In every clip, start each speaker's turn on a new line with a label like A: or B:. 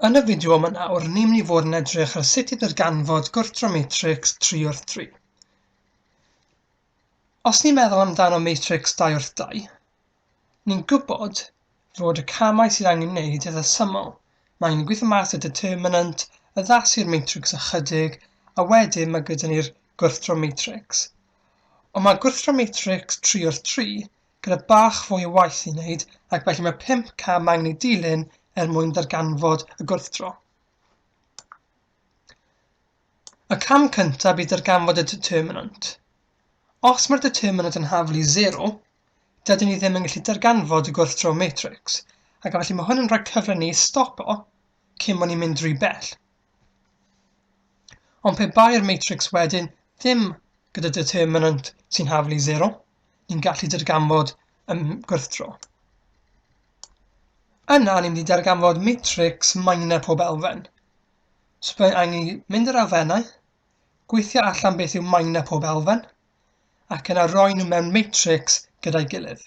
A: Yn y fideo yma nawr, ni'n mynd i fod yn edrych ar sut i ddarganfod gwrthdro matrics 3 wrth 3. Os ni'n meddwl amdano matrics 2 wrth 2, ni'n gwybod fod y camau sydd angen wneud eitha syml. Mae ni'n gweithio mas y determinant, addasu'r matrics ychydig, a wedyn mae gyda ni'r gwrthdro matrics. Ond mae gwrthdro matrics 3 wrth 3 gyda bach fwy o waith i wneud ac felly mae 500 angen ei dilyn er mwyn darganfod y gwrthdro. Y cam cyntaf bydd darganfod y determinant. Os mae'r determinant yn hafl i 0, dydyn ni ddim yn gallu darganfod y gwrthdro matrix, ac felly mae hwn yn rhoi cyfle ni i stopo cyn bod ni'n mynd rhy bell. Ond pe bai'r matrics wedyn ddim gyda determinant sy'n haflu 0, ni'n gallu darganfod y gwrthdro. Yna, ni'n mynd i darganfod matrix minor pob elfen. So byddai'n angen mynd i'r elfennau, gweithio allan beth yw minor pob elfen, ac yna roi nhw mewn matrix gyda'i gilydd.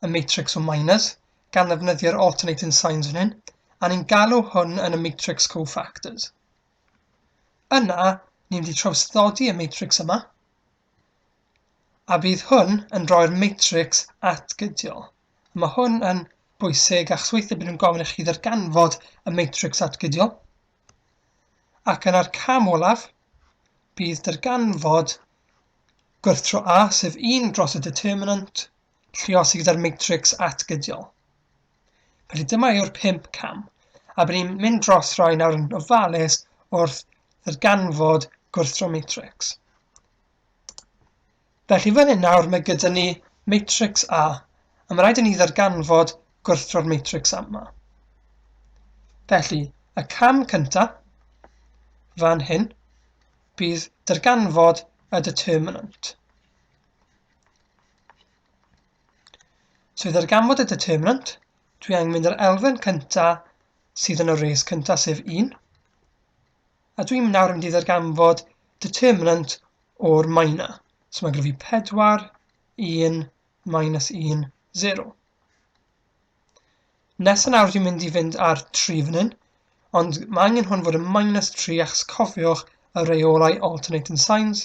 A: y matrics o minors, gan ddefnyddio'r alternating signs fan hyn, a ni'n galw hwn yn y matrics cofactors. Yna, ni'n mynd i trawsddodi y matrics yma, a bydd hwn yn rhoi'r matrics atgydiol. A mae hwn yn bwysig achos weithiau bydd nhw'n gofyn i chi ddarganfod y matrics atgydiol. Ac yna'r cam olaf bydd darganfod gwrthro A, sef 1 dros y determinant lluosi gyda'r matrics atgydiol. Felly dyma yw'r pimp cam, a bydd ni'n mynd dros rai nawr yn ofalus wrth ddarganfod gwrthro matrix. Felly fan hyn nawr mae gyda ni matrix A, a mae rhaid i ni ddarganfod gwrthro'r matrix A yma. Felly, y cam cyntaf, fan hyn, bydd darganfod y determinant. So i ddarganfod y determinant, dwi angen mynd i'r elfen cynta sydd yn y res cynta, sef 1. A dwi'n nawr mynd i ddarganfod determinant o'r maina. So mae'n gryfu 4, 1, minus 1, 0. Nes yn awr dwi'n mynd i fynd ar 3 fan hyn, ond mae angen hwn fod yn minus 3 achos cofiwch y reolau alternating signs,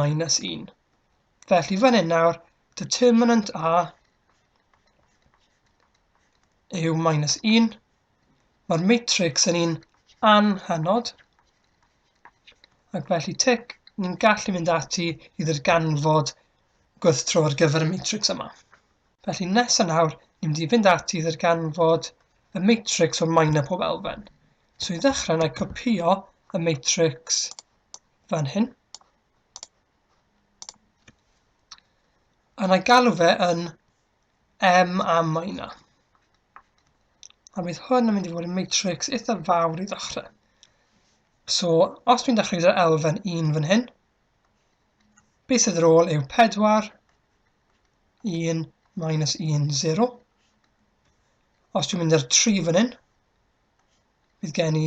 A: minus 1. Felly fan hyn nawr, determinant A yw minus 1. Mae'r matrix yn un anhanod, ac felly tic, ni'n gallu mynd ati i ddirganfod gwrthdro ar gyfer y matrix yma. Felly nesaf nawr, ni'n mynd i fynd ati i ddirganfod y matrix o'r minor pob elfen. So i ddechrau, na i copio y matrix fan hyn. A na galw fe yn M a minor. A bydd hwn yn mynd i fod yn matrix eitha fawr i ddechrau. So, os dwi'n dechrau gyda'r elfen 1 fan hyn, beth sydd ar ôl yw 4, 1, minus 1, 0. Os dwi'n mynd i'r 3 fan hyn, bydd gen i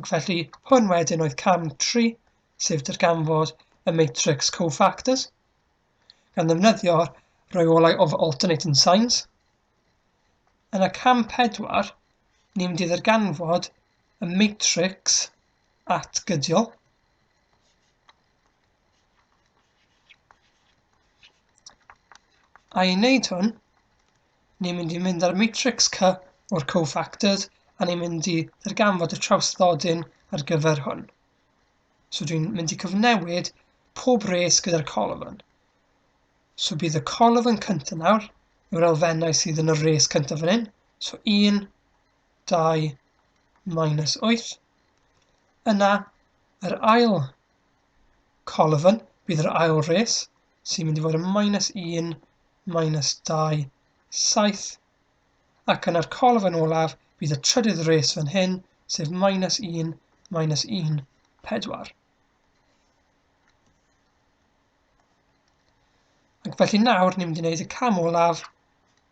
A: Ac felly, hwn wedyn oedd cam 3, sef darganfod y matrix cofactors, gan ddefnyddio'r rheolau of alternating signs. Yn y cam 4, ni'n mynd i ddarganfod y matrix atgydiol, A i wneud hwn, Ni'n mynd i mynd ar matrix C o'r cofactors a ni'n mynd i ddarganfod y trawstlodyn ar gyfer hwn. So dwi'n mynd i cyfnewid pob res gyda'r colofn. So bydd y colofn cyntaf nawr yw'r elfennau sydd yn y res cyntaf fan hyn. So 1, 2, minus 8. Yna, yr ail Colofn, bydd yr ail res, sy'n mynd i fod yn minus 1, minus 2, 7, ac yna'r colofn olaf bydd y trydydd res fan hyn, sef minus 1, minus 1, 4. Ac felly nawr ni'n mynd i wneud y cam olaf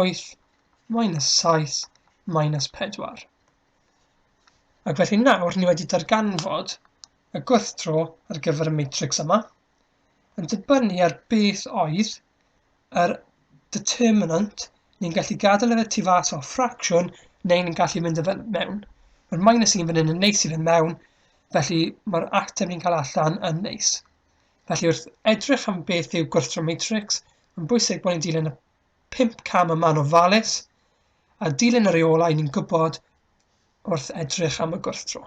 A: 8 minus 7 minus 4. Ac felly nawr ni wedi darganfod y gwrthdro ar gyfer y matrix yma yn dibynnu ar beth oedd yr determinant ni'n gallu gadael efe tu fas o'r ffracsiwn neu ni'n gallu mynd efe mewn. Mae'r minus 1 fan hyn yn neis i fe mewn, felly mae'r ateb ni'n cael allan yn neis. Felly wrth edrych am beth yw gwrthdraw matrics, mae'n bwysig bod ni'n dilyn y pimp cam y man ofalus a dilyn y reolau ni'n gwybod wrth edrych am y gwrthdraw.